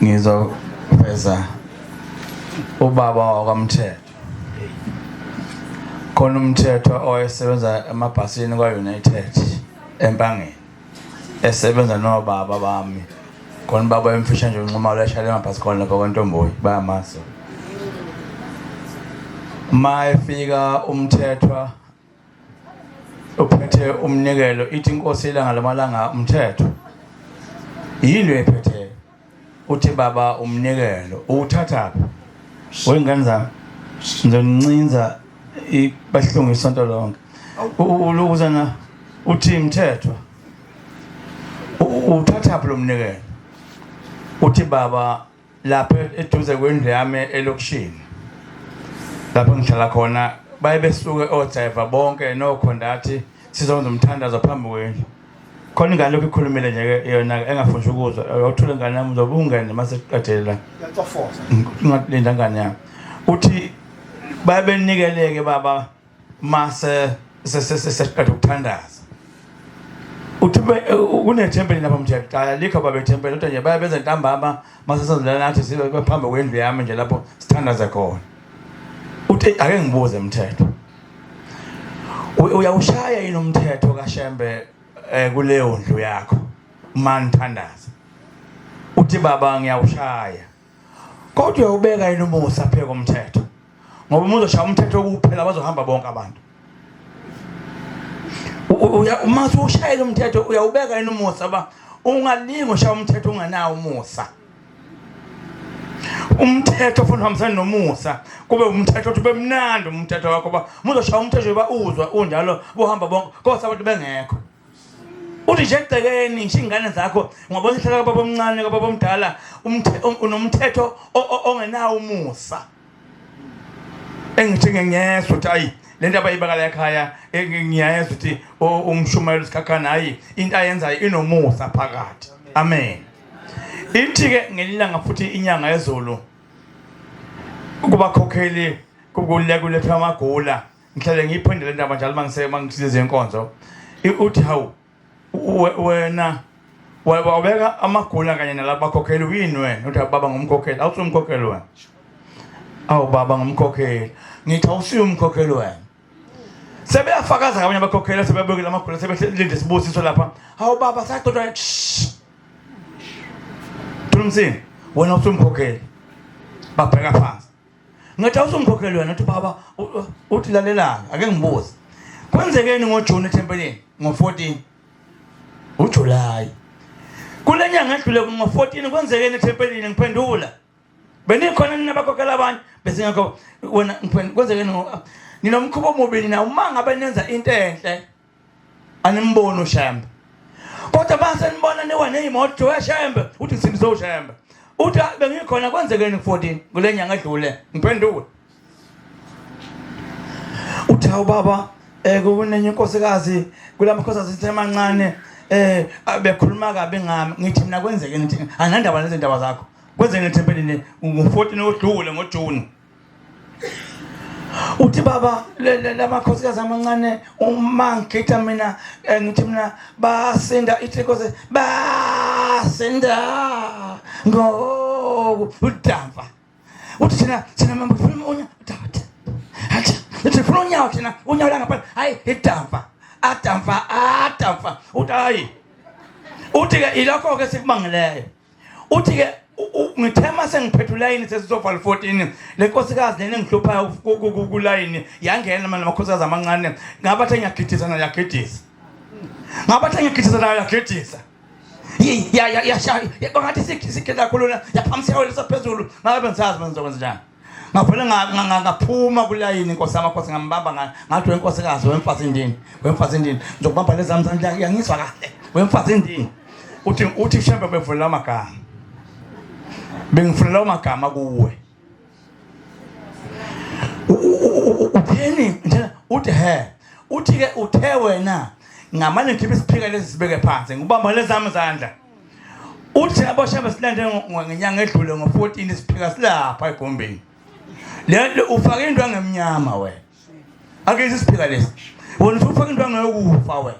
ngizoveza ubaba wakwamthetho khona umthetho oyesebenza emabhasini kwa-united empangeni esebenza nobaba bami khona ubaba emfisha nje unxumalo eshale emabhasi khona lapha kwantomboyi bayamazi uma efika umthethwa uphethe umnikelo ithi inkosi ilanga lamalanga umthetho yini lo ephetheyo uthi baba umnikelo uwuthathaphi wey'ngane zami ngizonincinza bahlungu isonto lonke ulukuzana uthi mthethwa uthathaphi lo mnikelo uthi baba lapho eduze kwendlu yami elokishini lapho ngihlala khona baye besuke odrayiva bonke nokhondathi sizokwenza umthandazo phambi kwendlu khona ingane lokhu ikhulumile nje-ke yona engafuni ukuzwa yothule ngane yami uzobe ungene uma sekuqedele la ingalinda ngane yami uthi baye benikeleke baba mase sesiqeda ukuthandaza uthi kunethempeli lapha mthe kuqala likho baba ithempeli kodwa nje baya beze ntambama mase sazilala nathi sibe phambi kwendlu yami nje lapho sithandaze khona uthi ake ngibuze mthetho uyawushaya yini umthetho kashembe eh, kuleyo ndlu yakho uma nithandaza uthi baba ngiyawushaya Kodwa ubeka yini umusa pheko umthetho? Ngoba uma uzoshaya umthetho ukuphela bazohamba bonke abantu. Uma ushayela umthetho uyawubeka yini umusa ba ungalingi ushaya umthetho unganawo umusa. umthetho ofuna uhambisana nomusa kube umthetho othi bemnandi umthetho wakho ba muzoshaya umthetho ba uzwa unjalo bohamba bonke kodwa abantu bengekho uthi nje egcekeni nje ingane zakho ngoba sihlala kwababa omncane kwababa omdala unomthetho ongenawo umusa engithi ngengezwa ukuthi ayi le nto abayibakala ekhaya ngiyayezwa ukuthi umshumayelo sikhakhana hayi into ayenzayo inomusa phakathi amen ithi-ke ngelilanga futhi inyanga yezulu kubakhokheli kukulekuletha amagula ngihlale ngiyiphinde le ndaba njalo uma ngisize inkonzo uthi hawu wena wabeka amagula kanye nalabakhokheli uyini wena uthi baba ngumkhokheli awusumkhokheli wena awu baba ngumkhokheli ngithi awusiye umkhokheli wena sebeyafakaza ngabanye abakhokheli sebebekile amagula sebelinde sibusiso lapha hawu baba sacotshwa thulumsini wena usumkhokheli babheka phansi Ngathi awuzongikhokhela yona athi baba uthi lalelanga ake ngibuze. Kwenzekeni ngoJune ethempelini ngo14 uJuly. Kule nyanga edlule ngo14 kwenzekeni ethempelini ngiphendula. Benikhona nina bakhokhela abanye bese ngakho wena kwenzekeni nginomkhubo omubi nina uma ngabe nenza into enhle animboni ushembe kodwa mase nibona niwa neyimoto weshembe uthi ngisindize ushembe uthi ah, bengikhona kwenzekeni ku-14 kule nyanga edlule ngiphendule uthi hawu baba um kunenye inkosikazi kula makhosikazi sithe mancane eh bekhuluma kabi ngami ngithi mina kwenzeke ngithi anandaba nezindaba zakho kwenzeke nethempelini ngo-14 odlule ngoJune uthi baba lamakhosikazi amancane uma ngigida mina eh, ngithi mina basinda ithikoze basinda ngoku udava uthi thina thina mambo funa unya udava hacha uthi funa unyawo thina unyawo langaphandle hayi idava adava adava uthi hayi uthi ke ilokho ke sikubangileyo uthi ke ngithe uma sengiphethe ulayini sesizovala 14 le nkosikazi lena engihluphayo kulayini yangena manje amakhosikazi amancane ngabathe ngiyagidisa nayo yagidisa ngabathe ngiyagidisa nayo yagidisa yashaya bangathi sikhe kakhulu yaphamiseka wena saphezulu ngabe bengisazi benizokwenza njani ngavele ngaphuma kulayini inkosi yami akhosi ngambamba ngathi wenkosikazi wemfazi ndini wemfazi ndini ngizokubamba lezami zami yangizwa kahle wemfazi ndini uthi uthi shembe bevulela amagama bengifunela amagama kuwe utheni njena uthi he uthi ke uthe wena ngamane ngikhiphe isiphika lesi sibeke phansi ngibamba lezami zandla Uthi yabo shaba silande ngenyanga edlule ngo-14 siphika silapha egombeni. Lento ufake into angemnyama wena. Ake sisiphika lesi. Wona ufake into angeyokufa wena.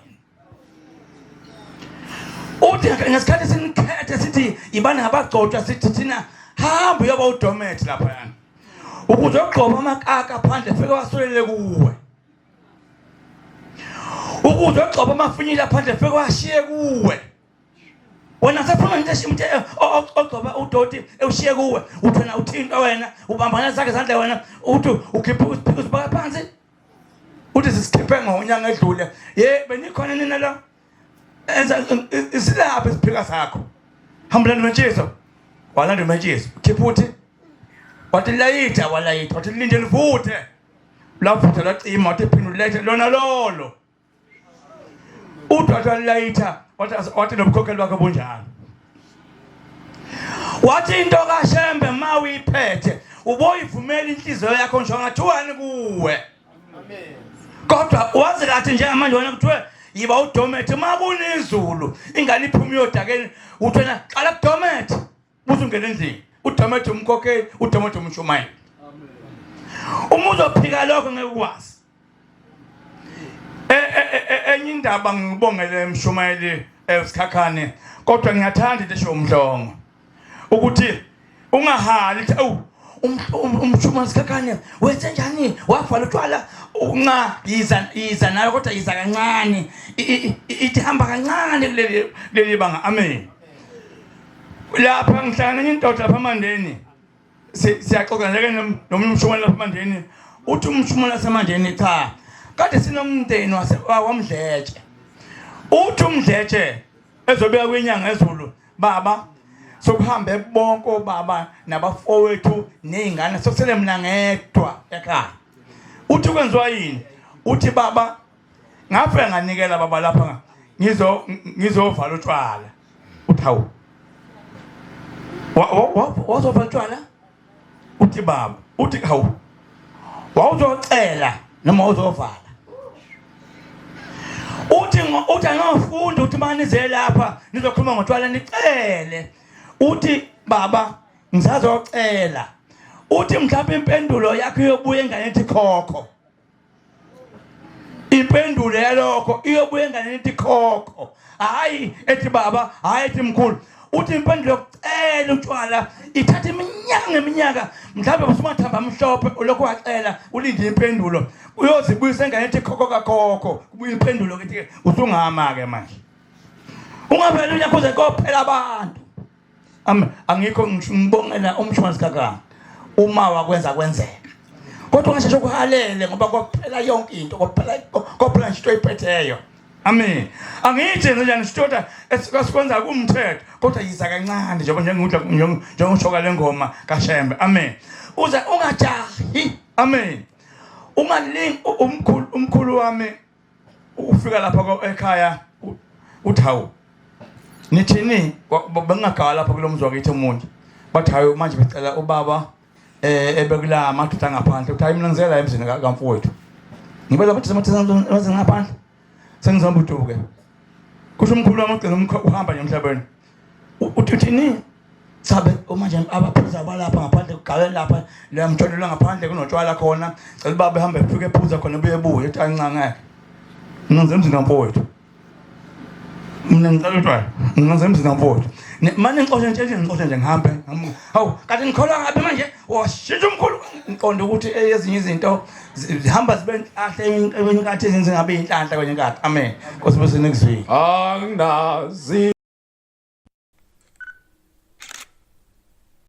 Uthi ngesikhathi sinikhethe sithi ibani abagcotshwa sithi thina hamba uyoba udomet lapha. Ukuze ogqoba amakaka phandle fike wasulele kuwe. ukuze ogcoba amafinyile aphandle fike washiye kuwe wena sephuma nje shimthe eh, ogcoba udoti ewushiye kuwe uthi wena uthinta wena ubambana zakhe zandle wena uthi ukhipha usiphika usibaka phansi uthi sisikhiphe ngonyanga edlule ye benikhona nina la enza isilapha isiphika sakho hambulani mentshiso walanda umentshiso khipha uthi wathi layitha walayitha wathi linde livuthe lafutha lacima wathi phinde ulethe lona lolo udwathu alilayitha wathi nobukhokheli bakhe bunjalo wathi into kashembe ma uyiphethe uboyivumela inhliziyo yakho nje angathiwani kuwe kodwa wazi lathi njengamanje wena kuthiwe yiba udomethi uma kunezulu ingane iphuma iyodakeni uthena qala kudomethi Uzungena endlini udomethe umkhokheli udomethe umshumayeli. Uma uzophika lokho ngeke ukwazi. E, e, e, enye indaba ngibongele emshumayeli esikhakhane kodwa ngiyathanda into esho umdlongo ukuthi ungahali ukuthi awu um, um, umshumayeli sikhakhane wenze njani wavala utshwala unca yiza yiza nayo kodwa yiza kancane ithi hamba kancane kuleli banga amen lapha ngihlangana enye indoda lapha amandeni siyaxoxa njeke nomunye umshumane lapha amandeni uthi umshumane wasemandeni cha kade sinomndeni wamdletshe uthi umdletshe ezobuya kwinyanga ezulu baba sokuhambe bonke obaba nabafowethu nezingane sokusele mina ngedwa ekhaya uthi kwenziwa yini uthi baba ngafika nganikela baba lapha ngizo ngizovala utshwala uthi hawu wazovala utshwala uthi baba uthi hawu wawuzocela noma uzovala uthi uthi angafundi uthi mani ze lapha nizokhuluma ngotshwala nicele uthi baba ngisazocela uthi mhlawumbe impendulo yakho yobuye engane ethi khokho impendulo yalokho iyobuya enganeni ithi khokho hhayi ethi baba hhayi ethi mkhulu uthi impendulo yokucela utshwala ithatha iminyaka ngeminyaka mhlawumbe busumathamba amhlophe ulokhu wacela ulinde impendulo uyozibuyisa engane ethi khokho kakhokho kubuya impendulo kithi usungama-ke manje ungavele unyakhuze kophela abantu Amen. Angikho ngibongela umshwalense kaka uma wakwenza kwenzeka. Kodwa ngasheshe ukuhalele ngoba kophela yonke into, kophela kophela nje into oyiphetheyo. Amen. Angithi nje ngisitoda esikwenza kumthetho kodwa yiza kancane nje njengudla njengokushoka lengoma kaShembe. Amen. Uze ungajahi. Amen. Ungalingi umkhulu umkhulu wami ukufika lapha ekhaya uthi hawu nithini bengingagala lapha kulo mzi wakithi omunye bathi hayi manje becela ubaba eh ebekula amadoda ngaphandle uthi hayi mina ngizela emzini kamfowethu ngibela bathi semathi emzini ngaphandle sengizombuduke kusho umkhulu wamagcina uhamba nje emhlabeni uthini Sabe uma nje abaphuza abalapha ngaphandle kugalela lapha la mtholelo ngaphandle kunotshwala khona cela baba ehambe efike ephuza khona buye buye ethi ancangeke ngenze emzini kamfowethu mina ngicela utshwala ngenze emzini kamfowethu mane ngixoshe nje nje ngixoshe nje ngihambe hawu kanti ngikholwa ngabe manje washintsha umkhulu ngiqonda ukuthi ezinye izinto zihamba zibe nhlahla kwenye inkathi ezenze ngabe inhlanhla kwenye inkathi amen nkosi bese next week anginazi